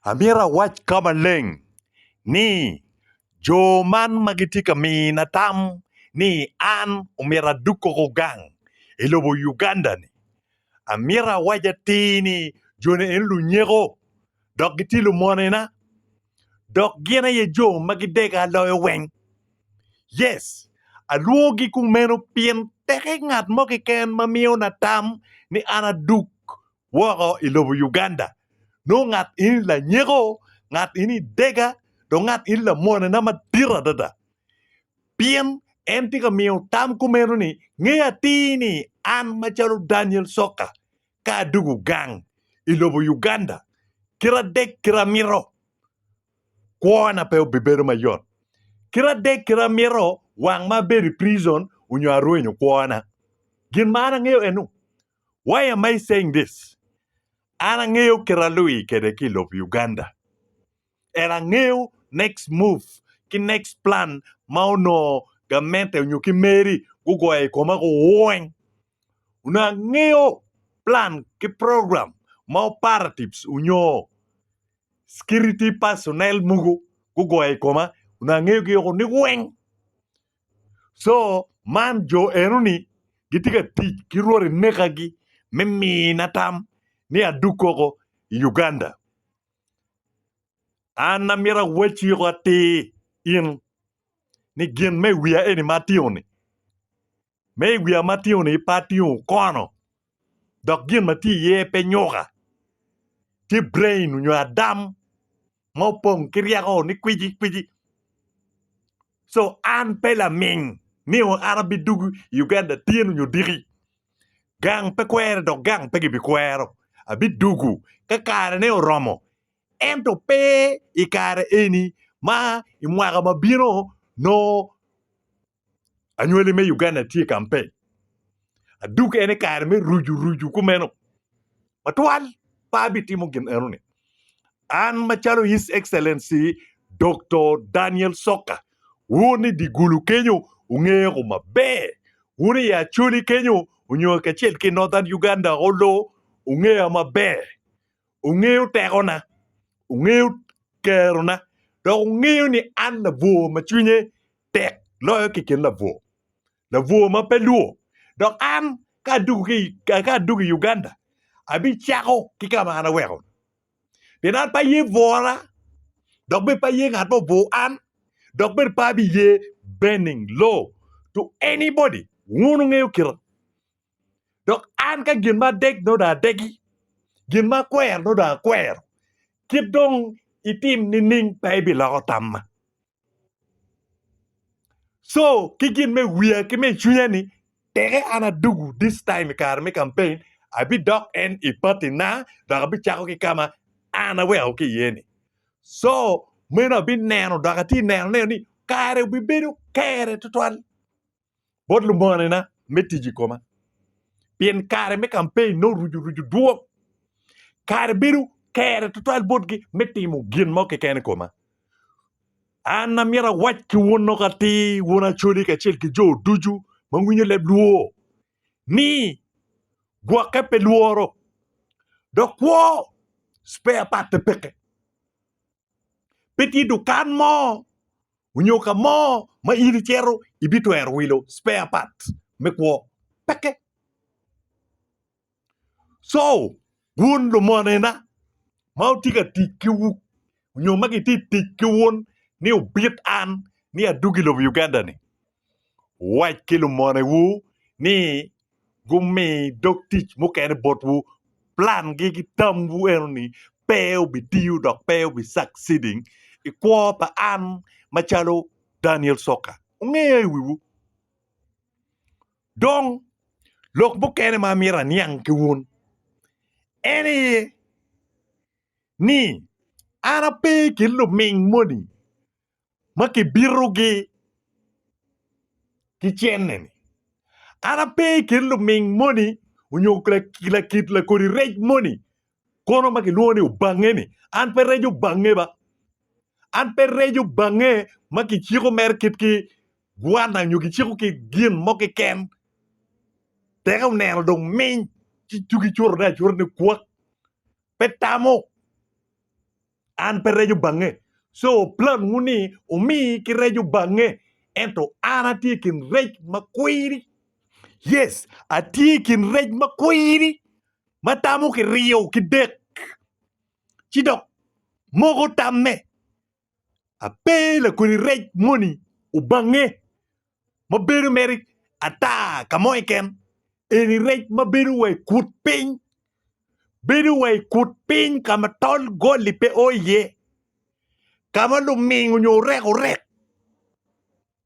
Amito awac ka maleng ni jo man ma gitye ka mina tam ni an omyero adug koko gang i lobo Uganda-ni, amito awac atir ni joni eni lunyeko dok gitye lumonena dok gin aye jo ma gidega loyo weng. Yes, alwogi kumeno pien peke ngat mo keken ma miyona tam ni an adug woko i lobo Uganda nongo ngat eni lanyeko, ngat eni dega dong ngat eni lamonena madit adada. Pien en tye ka miyo tam kumeno ni, Nge atir ni an macalo Daniel Sokka ka adwogo gang i lobo Uganda kite adek kite amito, kwona pe obibedo mayot. Kite adek kite amito wang ma abedo i prizon onyo arwenyo kwona. Gin ma an angeyo enu, Why am I saying this? An angeyo kit alui kede ki lob Uganda and angeyo next move ki next plan ma onongo gamente onyo ki meri gugoyo i koma ku wony. Onongo angeyo plan ki program ma operatives onyo security personnel mugu gugoyo i koma onongo angeyo gi oko ni weng. Co man jo enoni gitye ka tic ki rwodi mekagi me mina tam ni adug koko i Uganda an amito awacci woko atir in ni gin me i wiya eni ma atino-ni me i wiya ma atino-ni pe atingo kono dok gin ma tye iye pe nyuka. Tye brain nyo adam ma opong ki ryeko ni kwici kwici. So an pe laming ni an abidugu i Uganda tyen nyo diki. Gang pe kwere dok gang pe gibikwero. Abidugu ka kare ne oromo ento pe i kare eni ma i mwaka ma bino nongo anywali me Uganda tye i kampeny adug en i kare me ruju ruju kumeno matwal pe abitimo gin enoni an macalo His Excellency Doktor Daniel Soka wun i dye gulu kenyo wungeko maber wun i Acholi kenyo nyo kacel ki Northern Uganda Oloo wungeya maber ongeyo tekona, ongeyo kerona dok ongeyo ni an labwor ma cwinye tek loyo keken labwor, labwor ma pe lwo dok an ka adwogo ki ka adwogo i Uganda abicako ki ka ma an aweko pien an pe aye bwora dok bene pe aye ngat ma obwor an dok bene pe abiye bending low to anybody wun wungeyo kite dok an ka gin ma adek nongo dong adegi, gin ma akwero nongo dong akwero. Kit dong itim nining pe ibiloko tamma? Co ki gin me i wiya ki me i cwinya ni teke an adugu this time i kare me campaign abidok en i patina dok abicako ki ka ma an aweko ki iye ni. Co meno abineno dok atye ka neno ni kare obibedo kere tutwal. bot lumonena me tic i koma pien kare me campaign nongo oruco ruco dwong kare bedo kere tutwal botgi me timo gin mo keken i koma an amyero awac ki wun nok atir wun acoli kacel ki jo ducu ma winyo leb lwor ni gwoke pe lworo dok kwo spare part pe peke pe tye dukan mo onyo ka mo ma in icito ibitwero wilo spare part me kwo peke. So wun lumonena ma wutye ka tic ki wu onyo ma gitye tic ki wun ni obit an ni adwogo i lobo Uganda ni Wuwac ki lumonewu ni gumi dog tic mukene botwu. Plangi ki tamwu eno ni pe obitiyo dok pe obi succeeding i kwo pa an macalo Daniel Soka. Wungeya i wiwu. Dong lok mukene ma amyero aniang ki wun en aye ni an ape ki luming moni ma kibitogi ki cenneni. An ape i kin luming moni onyo lakit lakodi rec moni kono ma kilwongo ni Obange-ni, an pe reco bange ba, an pe reco bange ma kiciko mere kit ki gwana nyo kiciko ki gin mo keken teka oneno dong miny ci cugi cotone acota ni kwak pe tamo. an pe reco bange. Co plan wu ni wumi ki reco bange ento an atye i kin rec ma kwiri. Yes atye i kin rec ma kwiri ma tamo ki riyo ki dek ci dok moko tamme. Ape lakodi rec moni obange ma bedo mere ata ka mo keken eni rec ma bedo wa i kut piny bedo wa i kut piny ka ma tol goli pe oo iye ka ma luming nyo orekorek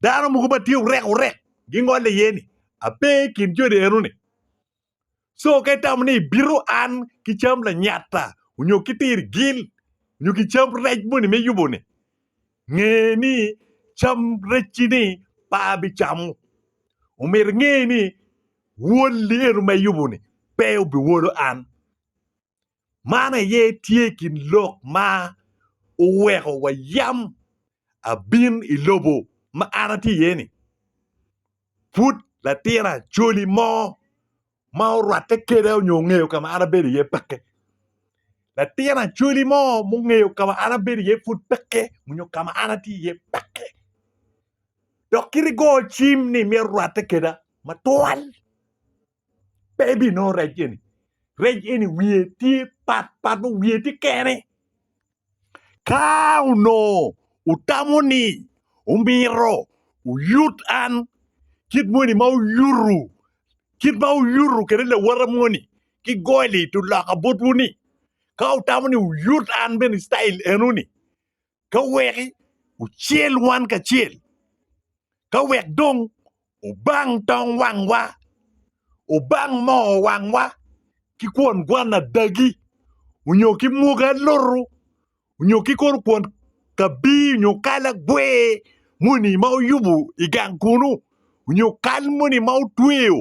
dano mogo ma tye orekorek gingole iye-ni ape i kin joni eno-ni Co ka itamo ni ibito an ki cam lanyata onyo ki tir gil onyo ki cam rec moni me yubo ni nge ni cam recci ni pe abicamo omyero inge ni woli eno ma iyubo ni pe obiwolo an. Man aye tye i kin lok ma oweko wa yam abin i lobo ma an atye iye ni. Pud latin acholi mo ma orwatte keda onyo ongeyo kama an abedo iye peke. Latin acholi mo ma ongeyo kama an abedo iye pud peke onyo kama an atye iye peke dok kit i go cim ni mito rwatte keda matwal. pe ibinongo rec eni rec eni wiye tye pat pat nongo wiye tye kene ka onongo otamo ni omito oyut an kit moni ma oyutu kit ma oyutu kede lawota moni ki goli oloka botwu ni ka otamo ni oyut an bene citayil eno ni ka weki ocel wan kacel, ka wek dong obang tong wangwa, obang moo wangwa ki kwon gwan adagi, onyo ki mwogi alutu, onyo ki kono kwon kabii onyo kal agwer moni ma oyubu i gang kunu, onyo kal moni ma otweyo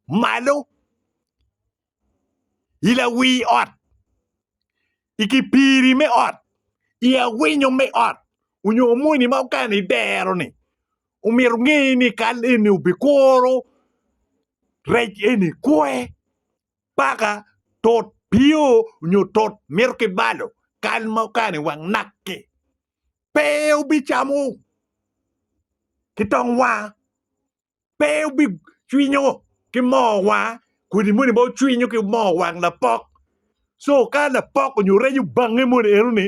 malo. i lawii ot, i kipiri me ot, i awinyo me ot onyo moni ma okene i dero ni omyero onge ni kal eni obikuro rec eni kwe paka tut pio onyo tut mito ki balo kal ma okene i wang naki pe obicamo ki tong waa. pe obicwinyo ki moo wang kodi moni bene cwinyo ki moo wang lapok co ka lapok onyo rec obange moni enoni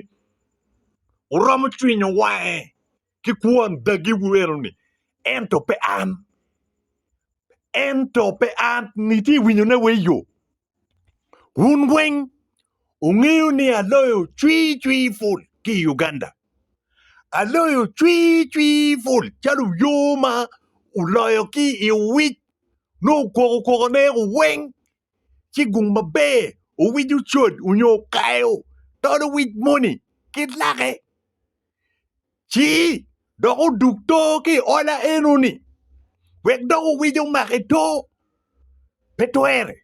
oromo cwinyo wange ki kwon dagi wu enoni ento pe an ento pe an niti iwinyo ne wa iyo Wun weng wungeyo ni aloyo cwii cwii pul ki i Uganda. Aloyo cwii cwii pul calo yo ma wuloyo ki i owic nongo wukwoko kwokone weng ci gung maber owic ocod onyo okayo tol owic moni ki lake. Ci dok odug to ki i ola eno-ni, wek dok owic omake to. Pe twere,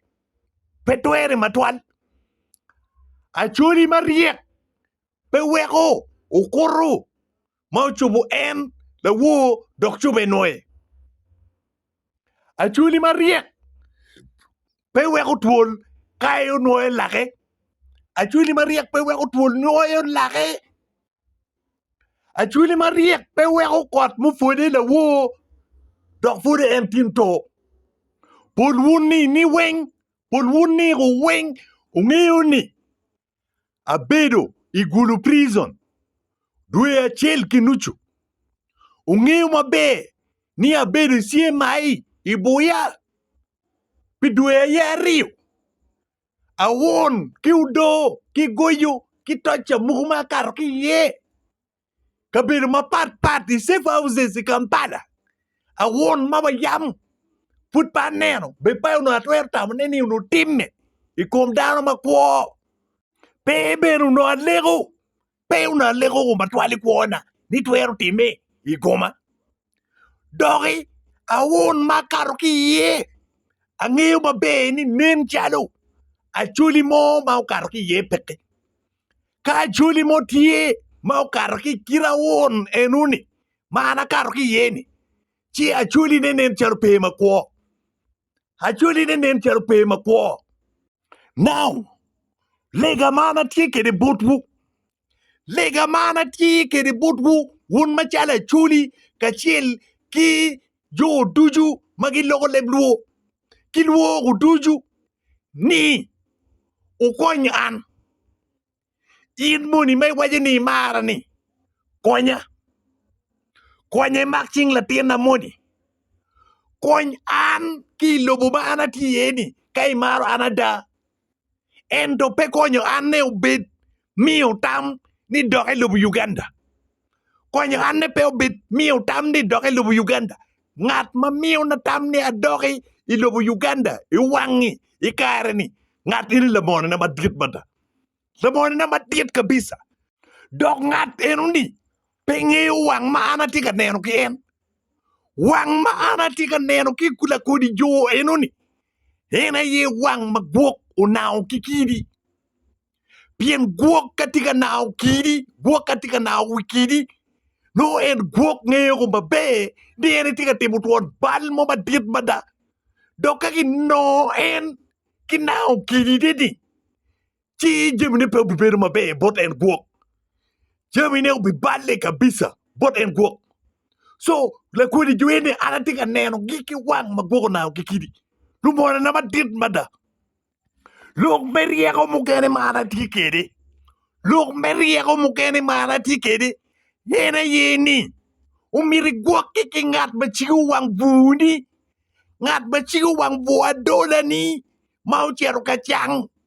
pe twere matwal. Acoli maryek pe weko okuto ma ocubo en lawor dok cobbe nwoye. Acwali maryek pe weko twol kayo nwoyo lake. Acwali maryek pe weko twol nwoyo lake. Acwali maryek pe weko kot mupwode lawoo dok pwod en tin to. Pol wun ni ni weng, pol wun ni weng wungeyo ni abedo i Gulu Prison dwe acel ki nucu. Wungeyo maber ni abedo i CMI i Buya pi dwe aye aryo. Awon ki odoo ki goyo ki toca mogo ma akato ki iye. kabedo mapat pat i safe houses i Kampala awon ma wayamo pud pe aneno be pe onongo atwero tamo ne ni onongo timme i kom dano ma kwo pe bene onongo aleko pe onongo aleko koma twal i kwona ni twero timme i koma. doki awun ma akato ki iye angeyo maber ni nen calo acholi mo ma okato ki iye peke ka acholi mo tye ma okato ki i kite awun enoni ma an akato ki iye ni ci acholi ne nen calo pe makwo acholi ne nen calo pe makwo now lega ma an atye kwede botwu Lega ma an atye kwede botwu, wun macalo Acholi kacel ki jo ducu ma giloko leb lwor ki lwogo ducu ni wukony an. In moni ma iwaco ni imara-ni, konya, konya imak cing latinna moni, kony an ki i lobo ma an atye iye-ni ka imaro an ada. ento pe konyo anne obed miyo tam ni dok elubo Uganda. Konyo anne pe obed miyo tam ni dok elubo Uganda. Ngat ma miyona tam ni adoki i lobo Uganda i wangi i kare-ni, ngat eni lamonina madit mada. Lamonina madit kabisa. Dok ngat enoni Pe ingeyo wang ma an atye ka neno ki en? Wang ma an atye ka neno ki lakodi jo enoni, en aye wang ma gwok onango ki kidi. Pien gwok ka tye ka nango kidi, gwok ka tye ka nango wi kidi, nongo en gwok ngeo maber ni en etye ka timo twon bal mo madit mada. Dok ka ginongo en ki nango kidine-ni, ci jamine pe obibedo maber bot en gwok jamine obiballe kabisa bot en gwok so lakodi jo eni an atye ka nenogi ki wang ma gwoko nanga kikidi lumorona madit mada lok me ryeko mukene ma an atye kwede lok me ryeko mukene ma an atye kwede en aye ni omyero igwokke ki ngat ma cigo wang bwuni ngat ma cigo wang bwo adolani ma ocito ka cang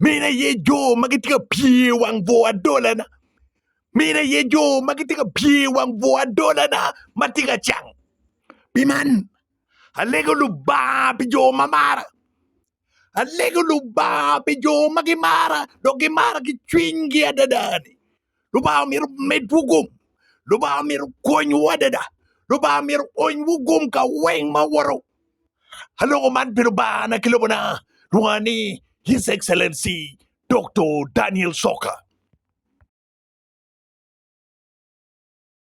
Mine aye jo ma gitye ka pye i wang bwor adolana. Mine aye jo ma gitye ka pye i wang bwor adolana ma tye ka cang. Pi man, alego Lubanga pi jo ma mara. Alego Lubanga pi jo ma gimara dok gimara ki cwinygi adada-ni. Lubanga myero omedwu gum, Lubanga myero okonywu adada, Lubanga myero oonywu gum ka weng ma woto. Aloko man pi Lubangana ki lobona, lwonga ni His Excellency Doktor Daniel Soka.